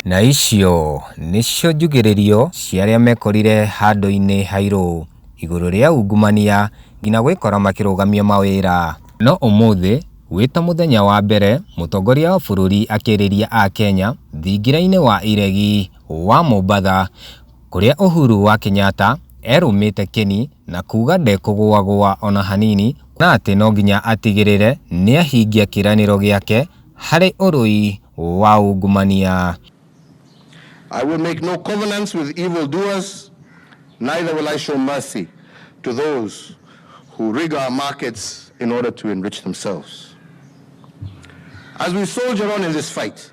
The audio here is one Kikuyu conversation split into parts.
Na icio nĩcio njugĩrĩrio cia arĩa mekorire handũ-inĩ hairũ, igũrũ rĩa ungumania, nginya gwĩkora makĩrũgamia mawĩra. No ũmũthĩ, wĩ ta mũthenya wa mbere, mũtongoria wa bũrũri akĩrĩria Akenya thingira-inĩ wa iregi. wa Mombatha, kũrĩa Uhuru wa Kenyatta erũmĩte kĩni na kuuga ndekũgũagũa ona hanini na atĩ no nginya atigĩrĩre nĩahingia kĩranĩro gĩake harĩ ũrũi wa ungumania. I will make no covenants with evil doers, neither will I show mercy to those who rig our markets in order to enrich themselves. As we soldier on in this fight,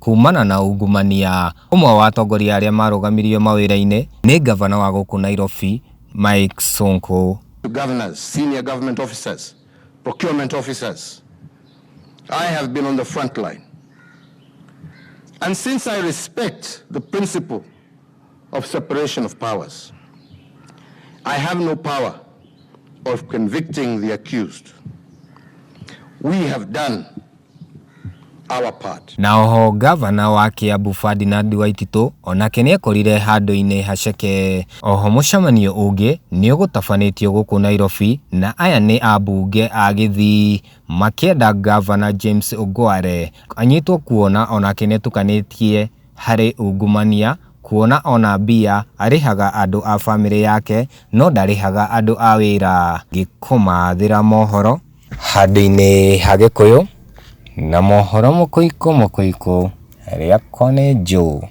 Kuumana na ungumania, ũmwe wa atongoria arĩa marũgamirio mawĩra-inĩ nĩ ngavana wa gũkũ Nairobi, Mike Sonko. Governors, senior government officers, procurement officers, I have been on the front line and since I respect the principle of separation of powers. I have no power of convicting the accused. We have done our part. Na oho gavana wa Kiambu Ferdinand Waititu onake nĩ ekorire handũ-inĩ haceke. Oho mũcemanio ũngĩ nĩ ũgũtabanĩtio gũkũ Nairobi na aya nĩ ambunge a Gĩthii makĩenda gavana James Ongware anyitwo kuona onake nĩ etukanĩtie Harĩ ungumania kuona ona mbia arĩhaga andũ a famĩlĩ yake no ndarĩhaga andũ a wĩra. Ngĩkũmathĩra mohoro. Handũ-inĩ ha Gĩkũyũ na mohoro mũkũikũ mũkũikũ rĩakwa nĩ Joe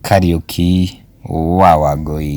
Kariuki wa Wangũi.